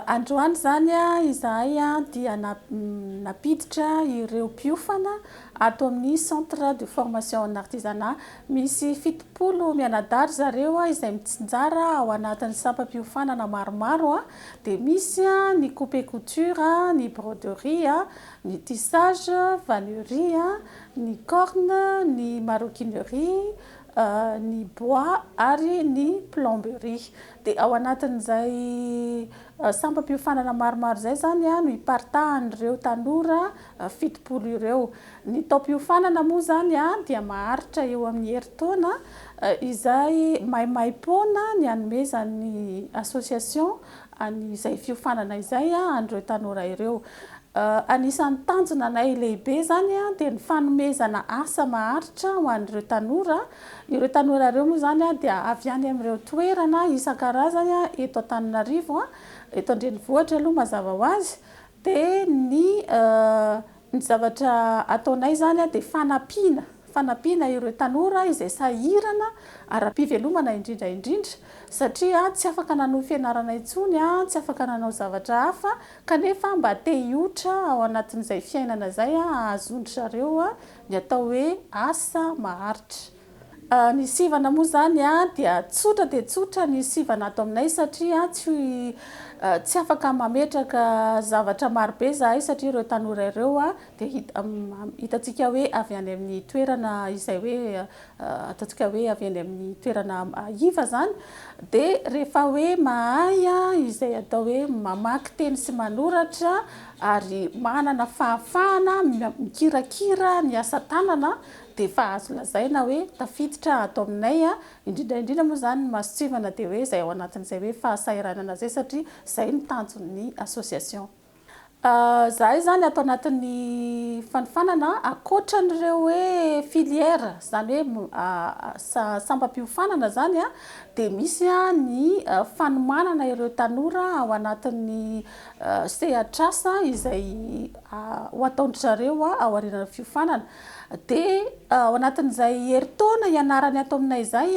Androany izany izahay dia nampiditra ireo mpiofana ato amin'ny Centre de formation en artisanat Misy fitopolo mianadahy ry zareo izay mitsinjara ao anatin'ny sampam-piofanana maromaro, dia misy ny coupe couture, ny broderie, ny tissage, vannerie, ny corne, ny maroquinerie, ny bois ary ny plomberie. Dia ao anatin'izay sampam-piofanana maromaro izay izany no iparitahan'ireo tanora fitopolo ireo. Ny taom-piofanana moa izany dia maharitra eo amin'ny herintaona izay maimaim-poana ny hanomezan'ny association an'izay fiofanana izay an'ireo tanora ireo. Anisan'ny tanjonanay lehibe izany dia ny fanomezana asa maharitra ho an'ireo tanora. Ireo tanora ireo moa izany dia avy any amin'ireo toerana isan-karazany eto Antananarivo, eto an-drenivohitra aloha mazava ho azy, Dia ny ny zavatra ataonay izany dia fanampiana, fanampiana ireo tanora izay sahirana ara-pivelomana indrindra indrindra satria tsy afaka nanohy fianarana intsony, tsy afaka nanao zavatra hafa kanefa mba te hioitra ao anatin'izay fiainana izay ahazoan-dry zareo ny atao hoe asa maharitra. Ny sivana moa izany dia tsotra dia tsotra ny sivana ato aminay satria tsy afaka mametraka zavatra marobe izahay satria ireo tanora ireo dia hitantsika hoe avy any amin'ny toerana izay hoe ataontsika hoe avy any amin'ny toerana iva izany dia rehefa hoe mahay izay atao hoe mamaky teny sy manoratra ary manana fahafahana mikirakira ny asa tanana dia efa azo lazaina hoe tafiditra ato aminay, indrindra indrindra moa izany ny masontsivana dia hoe izay ao anatin'izay hoe fahasahiranana izay satria izay no tanjon'ny association. Izahay izany ato anatin'ny fanofanana ankoatra an'ireo hoe filières izany hoe sambam-piofanana izany dia misy ny fanomanana ireo tanora ao anatin'ny sehatr'asa izay ho ataon-dry zareo aorianan'ny fiofanana. Dia ao anatin'izay herintaona ianarany ato aminay izay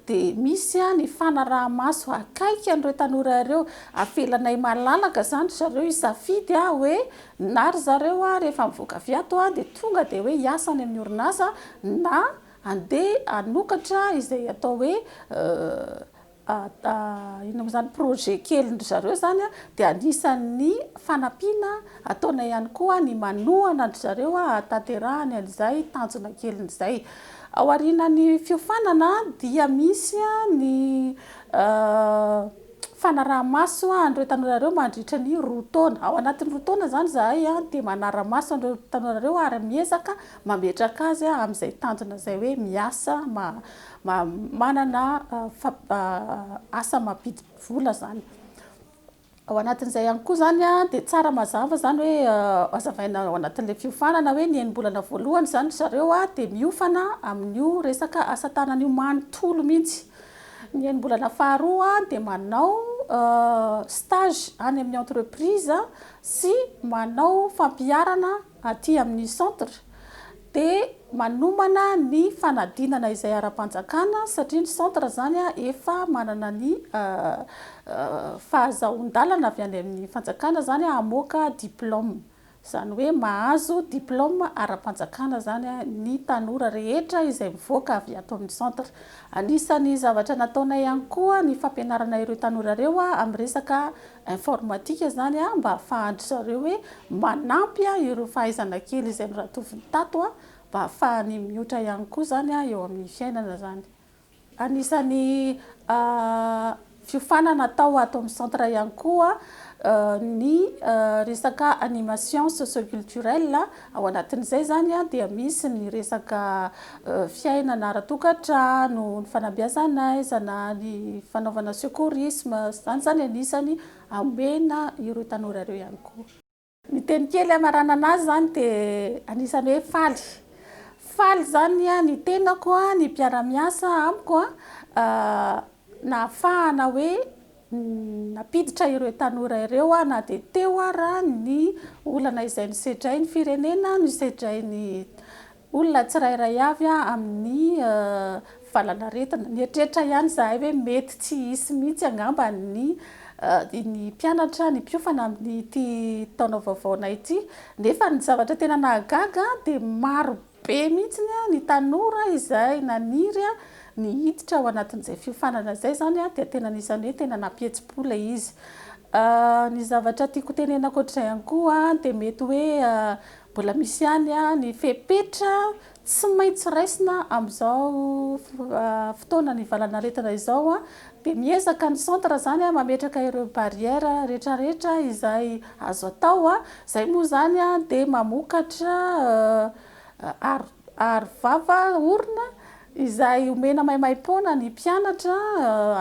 dia misy ny fanaraha-maso akaiky an'ireo tanora ireo. Avelanay malalaka izany ry zareo hisafidy hoe na ry zareo rehefa mivoaka avy ato dia tonga dia hoe hiasa any amin'ny orinasa na handeha hanokatra izay atao hoe Inona moa izany projet kelin-dry zareo izany dia anisan'ny fanampiana ataonay ihany koa ny manohana an-dry zareo hahatanterahany an'izay tanjona keliny izay. Ao aorianan'ny fiofanana dia misy ny fanaraha-maso an'ireo tanora ireo mandritra ny roa taona. Ao anatin'ny roa taona izany izahay dia manara-maso an'ireo tanora ireo ary miezaka mametraka azy amin'izay tanjona izay hoe miasa Manana asa mampidi vola zany. Ao anatin'izay ihany koa zany dia tsara mazava zany hoe hazavaina ao anatin'ilay fiofanana hoe ny enim-bolana voalohany zany ry zareo dia miofana amin'io resaka asa tanana io manontolo mihitsy. Ny enim-bolana faharoa dia manao stage any amin'ny entreprise sy manao fampiharana aty amin'ny centre dia manomana ny fanadinana izay ara-panjakana satria ny centre izany efa manana ny fahazahoan-dalana avy any amin'ny fanjakana izany hamoaka diplôme, izany hoe mahazo diplôme ara-panjakana izany ny tanora rehetra izay mivoaka avy ato amin'ny centre. Anisan'ny zavatra nataonay ihany koa ny fampianarana ireo tanora ireo amin'ny resaka informatika zany a mba afahan-dry zareo hoe manampy a ireo fahaizana kely izay noratoviny tato a mba afahany miotra ihany koa zany a eo amin'ny fiainana zany. Anisan'ny a fiofanana atao ato amin'ny centre ihany koa a ny resaka animation socio-culturelle. Ao anatin'izay izany dia misy ny resaka fiainana ara-tokantrano, ny fanabeazan'aizana, ny fanaovana secourisme, izany izany anisany hamena ireo tanora ireo ihany koa. Ny teny kely hamaranana azy izany dia anisany hoe faly. Faly izany ny tenako, ny mpiara-miasa amiko nahafahana hoe. Nampiditra ireo tanora ireo aho na dia teo ara ny olana izay nosedrain'ny firenena, nosedrain'ny olona tsirairay avy amin'ny valanaretina. Nieritreritra ihany izahay hoe mety tsy hisy mihitsy angamba ny ny mpianatra, ny mpiofana amin'ity taona vaovaonay ity. Nefa ny zavatra tena nahagaga dia maro Be mihitsy ny tanora izay naniry ny hiditra ao anatin'izay fiofanana izay, izany dia tena anisan'ny hoe tena nampihetsi-po ilay izy. Ny zavatra tiako hotenenina ankoatr'izay ihany koa dia mety hoe mbola misy ihany ny fepetra tsy maintsy raisina amin'izao fotoana nivalan'aretina izao Dia miezaka ny centre zany mametraka ireo barrière retraretra izay azo atao, zay moa zany dia mamokatra aro vava orona izay omena maimaimpoana ny mpianatra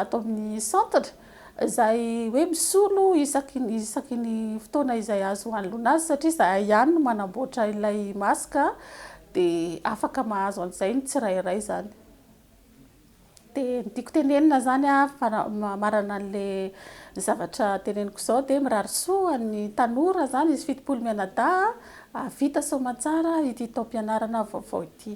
ato amin'ny centre izay hoe misolo isaky ny isaky ny fotoana izay azo hanoloana azy satria izahay ihany no manamboatra ilay masque dia afaka mahazo an'izay ny tsirairay zany. Dia ny tiako tenenina izany a, marana an'ilay zavatra teneniko izao, dia mirary soa ny tanora izany, izy fitopolo mianadahy a, hahavita soamantsara ity taom-pianarana vaovao ity.